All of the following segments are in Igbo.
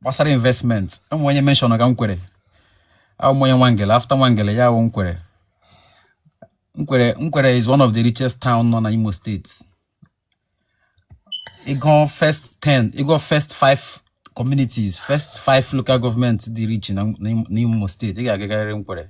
gbasara investment o nwe onye mention ga nkwere awụ m onye nwangele after nwangele ya wụ nkwere nkwere nkwere is one of the richest town nọ na imo steeti ị gụọ first ten ị gụọ first five communities first five local government dị rich na imo steeti ị ga-agagarịrị nkwere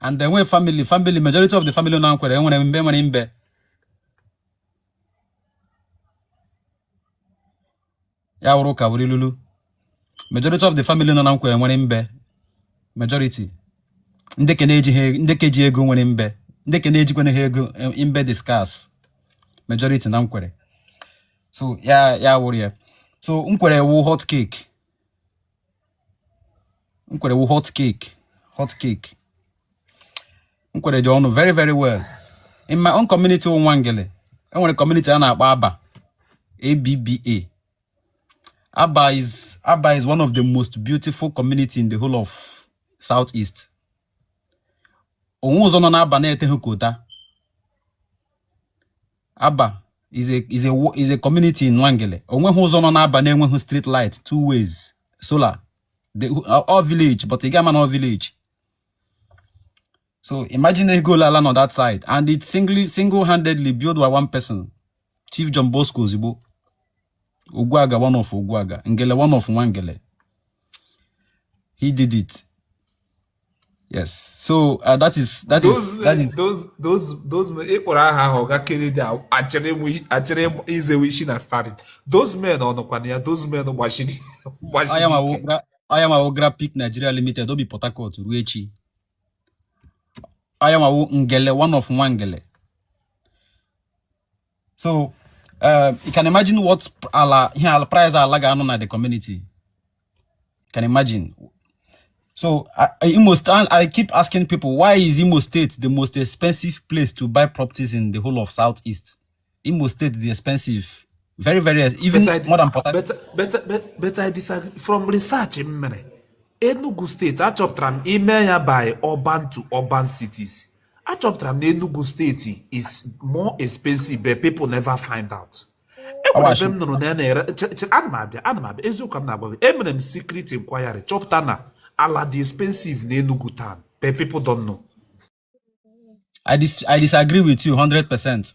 and the nwee family family majority of the family na nkwere enwere mbe nwere mbe ya wụrụ ka wuri lulu majority of the family nọ na nkwere nwere mbe majority ndị ke na-eji ha e, ndị ke ji ego nwere mbe ndị ke na-ejikwana ha ego e, mbe dị scarce majority na nkwere so ya ya wụrụ ya so nkwere wụ hot cake Nkwere wụ hot cake hot cake Nkwere dị ọnụ very very well in my own community wụ Nwangele enwere community a na-akpọ Abba ABBA Abba is Abba is one of the most beautiful community in the whole of South East onweghị ụzọ nọ n'Abba na-eteghị kota Abba is a is a is a community in Nwangele onweghị ụzọ nọ n'Abba na-enweghị street light two ways solar ọ village but ị ga ama na ọ village so imagine ego ole ala nọ that side and it singly single-handedly built by one person Chief John Bosco Ozigbu Ogwuaga one of Ogwuaga, Ngele one of Nwangele. He did it. Yes. So uh, that is that those, is that is those those those men ị kpọrọ aha ahụ ga kere dị achịrị izewe isi na starting. Those men ọ nọkwana ya those men gbachiri gbachiri. Aha ya m ma wụ Grapik Nigeria limited o bi Port Harcourt ruo echi. Aha ya m ma wụ Ngele one of Nwangele. so um, you can imagine what ala ihe ala price ala ga-anọ na the community you can imagine so I, Imo State, I keep asking people why is Imo State the most expensive place to buy properties in the whole of Southeast? Imo State the expensive, very very even but I, more than Port But but but, but I disagree from research in Enugu State. I chọpụtara m ime ya by urban to urban cities. achọpụtara m na Enugu steeti is more expensive but people never find out enwere ebe m nụrụ na ya na-ere che- che- ana m abịa ana m abịa eziokwu ka m na-agwa gị emere m secret inquiry chọpụta na ala dị expensive na Enugu town but people don't know I, dis- I disagree with you 100%.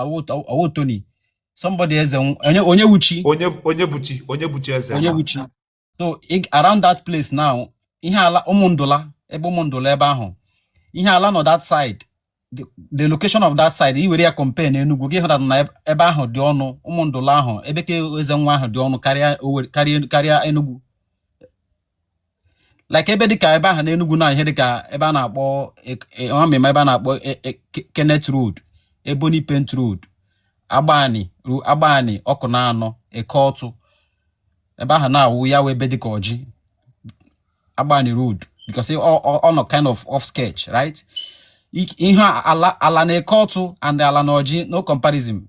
ọ wụ Tony somebody Eze Onye Onyewuchi Onye Onyebuchi Onyebuchi Eze Onyebuchi so around that place now ihe ala ụmụndụla ebe ụmụndụla ebe ahụ ihe ala nọ that side the location of that side i were ya compare na Enugu gị ahụta na ebe ahụ dị ọnụ ụmụndụla ahụ ebe ke Ezenwa ahụ dị ọnụ karịa karịa Enugu like ebe dịka ebe ahụ n'Enugu na ihe dịka ebe a na-akpọ ọmịma e, e, ebe a na-akpọ e, Kenneth Road Ebony Paint Road Agbani Agbani Ọkụnanọ Eke Otu ebe ahụ na-awụ ya wee ebe dịka Orji Agbani Road because ọ nọ kind of outskirt right ihe ala na Eke Otu and ala na Orji no comparison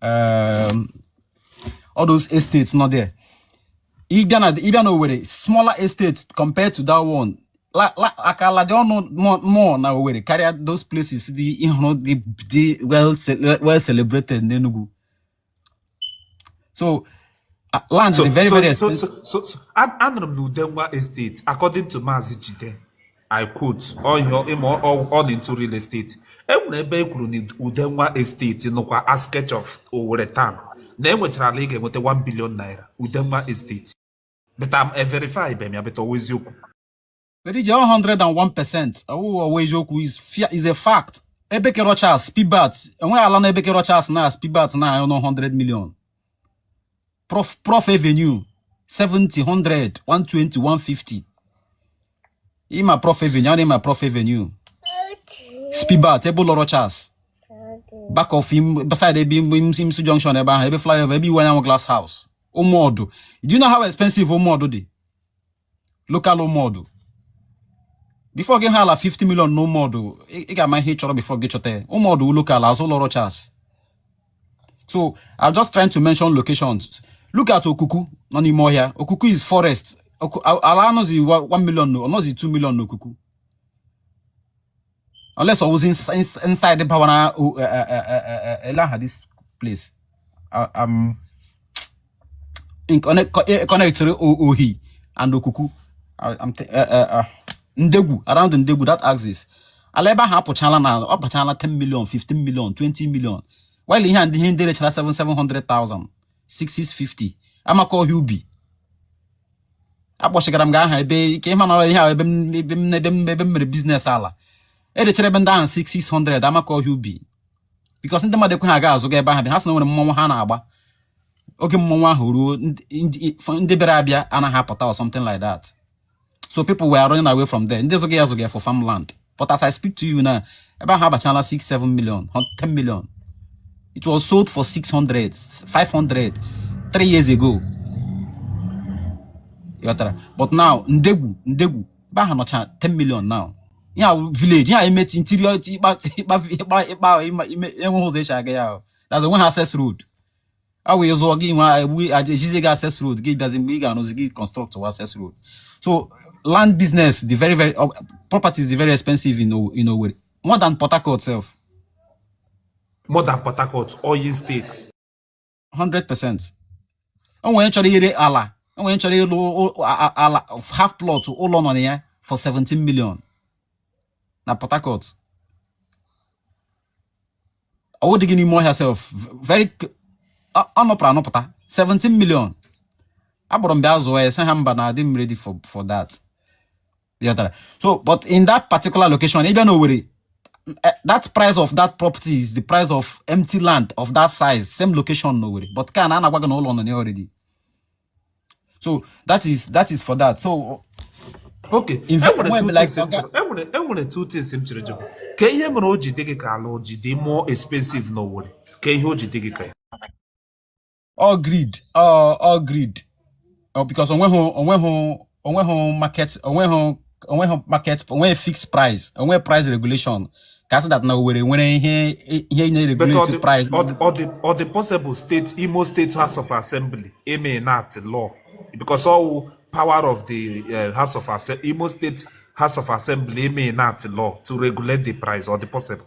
um, all those estates not there ị bịa na ị bịa na Owerri smaller estates compared to that one like ala dị ọnụ more na Owerri karịa those places dị ị hụrụ dị well celebrated n'Enugu so land so, dị very so, very expensive. so, so, so, so anụrụ m na Udenwa estate according to Maazị Jide I quote oh ị ma ọ dị into real estate e nwere ebe e kwuru na Udenwa estate nọkwa outskirt of Owerri town na e nwechara ala ị ga-enweta 1 billion naira Udenwa estate but I'm a verify bem ya but ọ wụ eziokwu very 101 percent ọ wụghị ọ wụ eziokwu is a fact ebe ke Rochas Spibat enweghị ala na ebe ke Rochas na Spibat na-anọghị 100 million prof prof avenue 70 100 120 150 ị ma prof avenue ọ na-ema prof avenue spibat ebe ụlọ rochas back of him beside ebe imsu junction ebe ahụ ebe flyover ebe Iwuanyanwu glass house ụmụọdụ do you know how expensive ụmụọdụ dị local ụmụọdụ before gị ahụ ala 50 million na ụmụọdụ ị ga-ama ihe ị chọrọ before gị achọta ụmụọdụ local azụ ụlọ Rochas so I'm just trying to mention locations look at okuku nọ n'ime ọhịa okuku is forest ala anọzi 1 million ọ nọzi 2 million na okuku unless ọ wụzi inside bawa na ele aha this place um, connectịrị ohi and okuku uh, uh, uh, ndegwu around ndegwu that axis ala ebe ahụ apụchala na ọ bachala 10 million 15 million 20 million while ihe a ndị ihe ndị rechara 7 700,000 650 Amakohia Ubi akpọchigara m gị aha ebe ke m mara ihe ahụ ebe m ebe m ebe m ebe m mere business ala e rechara ebe ndị ahụ 600 Amakohia Ubi because ndị mmadụ ekweghị aga azụga ebe ahụ bịa ha sị na e nwere mmọnwụ ha na-agba oge mmọnwụ ahụ ruo ndị- ndị ndị bịara abịa anaghị apụta or something like that so people were running away from there ndị zụga ya zụga for farmland but as I speak to you now ebe ahụ abachala 6 7 million 10 million it was sold for 600 500 3 years ago ị ghọtara but now ndegwu ndegwu ebe ahụ nọcha 10 million now yeah village yeah emeti interior ịkpa ịkpa ịkpa ịkpa enweghị ụzọ e ji aga ya that's o nweghị access road a wee zụọ gị nwe egbu ejizi gị access road gị bịazi mgbe ị ga-arụzi gị construct wa access road so land business dị very very uh, properties dị very expensive in, in Owerri more than Port Harcourt self more than Port Harcourt oil state 100 percent o nwere chọrọ ire ala o nwere chọrọ ire ala half plot ụlọ nọ na ya for 17 million na Port Harcourt ọ wụdịghị n'ime ọhịa self very ọ nọpụtara anọpụta 17 million a kpọrọ m bịa zụọ ya sị ha mba na adịghị m ready for for that ị ghọtara so but in that particular location ị bịa na Owerri eh, that price of that property is the price of empty land of that size same location na Owerri but ka na a na-agwa gị na ụlọ nọ ya already so that is that is for that so okay e nwere two things m chere jụrụ ka ihe mere o ji dị gị ka ala o ji dị more expensive n'Owerri ka ihe o ji dị gị ka ya ọ wụ greed ọ wụ greed oh, because onweghị onweghị onweghị market onweghị onweghị market onweghị fixed price onweghị price regulation ka a sị that na Owerri nwere ihe ihe na-regulate price ọ dị possible state Imo State House of Assembly may enact law because ọ wụ power of the uh, House of Assembly Imo State House of Assembly may enact law to regulate the price ọ dị possible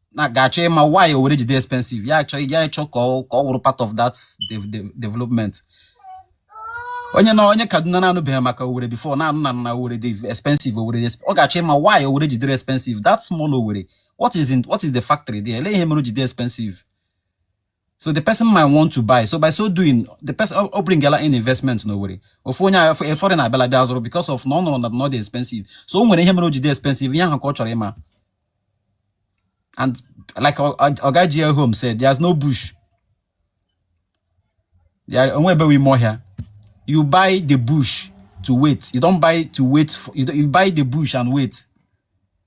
na ga-achọ ịma why Owerri ji dị expensive ya achọ ya achọ ka ọ ka ọ wụrụ part of that dev- dev- development onye na onye Kaduna na-anụbeghị maka Owerri before na-anụ na na Owerri dị expensive Owerri dị exp- ọ ga-achọ ịma why Owerri ji dịrị expensive that small Owerri what is in what is the factory there ele ihe mere o ji dị expensive so the person might want to buy so by so doing the person ọ bringala in investment n'Owerri ofu onye a foreigner abịala bịa zụrụ because of na ọ nụrụ na ọ dị expensive so o nwere ihe mere o ji dị expensive ihe ahụ ka ọ chọrọ ịma and like oga GL home said there's no bush there onweghị ebe ime ọhịa you buy the bush to wait you don't buy to wait for, you, you buy the bush and wait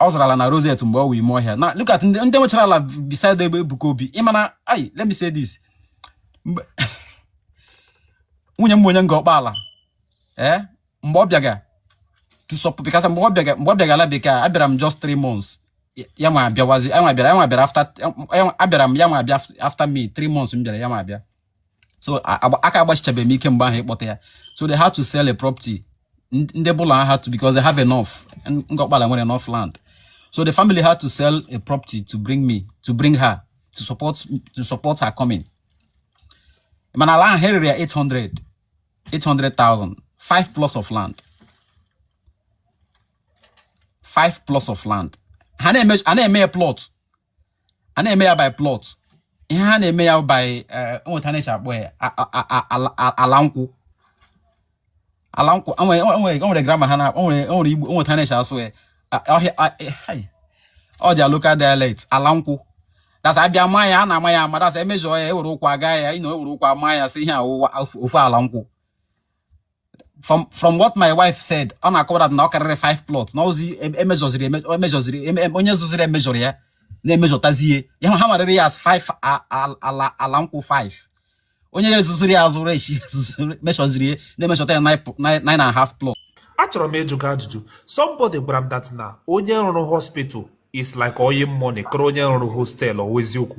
ọ zụrụ ala na roset mgbe ọ wụ ime ọhịa now look at ndị ndị nwechara ala beside ebe Ebuka Obi ị ma na I let me say this mgbe nwunye m onye Ngor Okpala ee mgbe ọ bịaga to support because mgbe ọ bịaga mgbe ọ bịaga ala bekee abịara m just three months Ya- ya nwa abịawazi ya nwa abịara ya nwa abịara after ya nwa- abịara m ya nwa abịa after me three months m bịara ya nwa abịa so aka agbachichabeghị m ike mgbe ahụ ịkpọta ya so they had to sell a property ndị ụlọ ha had to because they have enough Ngor Okpala nwere enough land so the family had to sell a property to bring me to bring her to support to support her coming mana ala ahụ ha rere ya 800 800,000 5 plots of land 5 plots of land ha na-eme ya plot a na-eme ya by plot ihe ha na-eme ya by eh, o nwe etu a na-eshi akpọ ya ala nkwụ ala nkwụ nwere grama ha na-akpọ nwere igbo o nwe etu a na-eshi asụ ya all their local dialect ala nkwụ that's a bịa maa ya a na-ama ya ama that's e measure ya ewere ụkwụ aga ya you know ewere ụkwụ ama ya sị ihe a wụ ofu ala nkwụ from from what my wife said ọ na-akọ that na ọ karịrị 5 plot na ozi e measureziri e measureziri onye zụziri measurerọ ya na-emeasuretazie ihe ha marịrị ya as 5 ala ala nkwụ 5 onye ya zụziri ya azụrụ echi measureziri ya na-emeasureta ya 9 and a half plot achọrọ m ịjụ gị ajụjụ somebody gwara m that na onye rụrụ hospital is like oil money kara onye rụrụ hostel ọ wụ eziokwu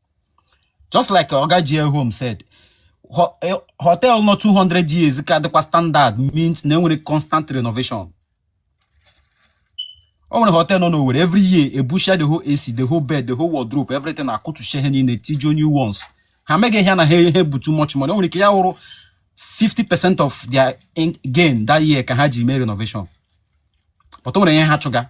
just like oga GL home said eh, hotel nọ 200 years ka dịkwa standard means na enwere constant renovation o nwere hotel nọ n'Owerri every year ebusha the whole AC the whole bed the whole wardrobe everything akụtusha ihe niile tichie new ones ha meghị ihe na ha ihe bụ too much money o nwere ike ya wụrụ 50 percent of their gain that year ka ha ji mee renovation but o nwere ihe ha chụga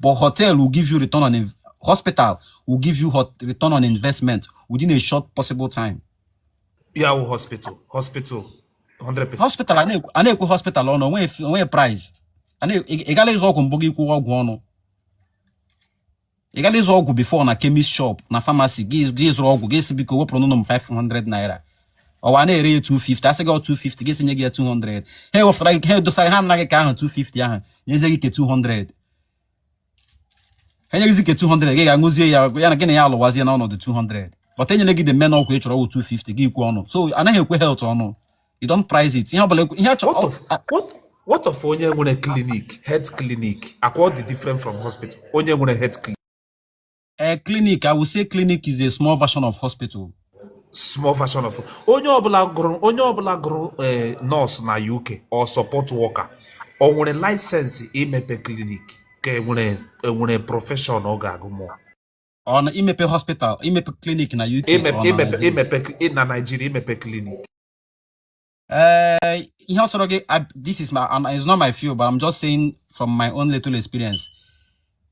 but hotel will give you return on in- hospital will give you hot return on investment within a short possible time ya wụ hospital hospital 100% hospital a na-ekwu- a na-ekwu hospital ọnụ o nwe o nwe price a na- ị ị gala ịzụ ọgwụ mbụ gị kwuwa ọgwụ ọnụ ị gala ịzụ ọgwụ before na chemist shop na pharmacy gị gị zụrụ ọgwụ gị sị biko wepụrụnụ m 500 naira ọ wụ a na-ere ya 250 a sị gị 250 gị sị nye gị ya 200 ha ewefụtara gị ha edosara ha anaghị ka ahụ 250 ahụ nyezie gị ke 200 ha nye gịzi ke 200 gị ga-aṅụzie ya ya na gị na ya alụwazie na ọnọdụ 200 but enyeghị gị the main ọgwụ ị chọrọ ọgwụ 250 gị ikwu ọnụ so anaghị ekwe health ọnụ you don't price it ihe ọbụla ị chọrọ what of onye nwere clinic health clinic akwa ọ dị different from hospital onye nwere health clinic a clinic i will say clinic is a small version of hospital small version of onye ọbụla gụrụ onye ọbụla gụrụ eh, nurse na uk or support worker o nwere license imepe clinic ka enwere enwere profession ọ ga-agụ mụọ ọ na imepe hospital imepe clinic na uk ọ na imepe Nigeria? imepe na Nigeria imepe clinic eh, ihe ọ sọrọ gị this is my and it's not my field but I'm just saying from my own little experience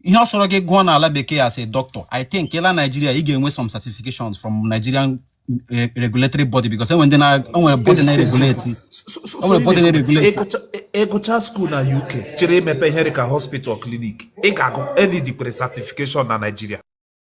ihe ọ sọrọ gị gụọ n'ala bekee as a doctor I think ịla Nigeria ị ga-enwe some certifications from Nigerian eh, regulatory body because enwe ndị na enwere body na regulate enwere body na regulate ịgụcha school na UK chọrọ imepe ihe dịka hospital clinic ị ga-agụ any degree certification na Nigeria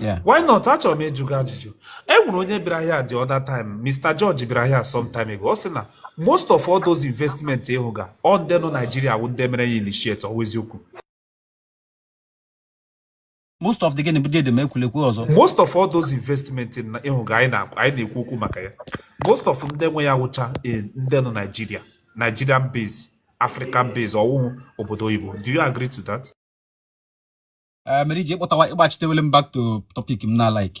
Yeah. why not achọrọ m ịjụ gị ajụjụ e nwere onye bịara here the other time Mr. George bịara here some time ago ọ sị na most of all those investment ị hụga ọ ndị nọ Nigeria wụ ndị mere ya initiate ọ wụ eziokwu most of the gịnị bụ dede ma ekwulekwu ọzọ most of all those investment na ị hụga anyị na- anyị na-ekwu okwu maka ya most of ndị nwe ya wụcha eh, ndị nọ Nigeria Nigerian base African base ọ wụhụ obodo oyibo do you agree to that? mere i ji ịkpọtawa ị gbachitewele m back to topic m na-alike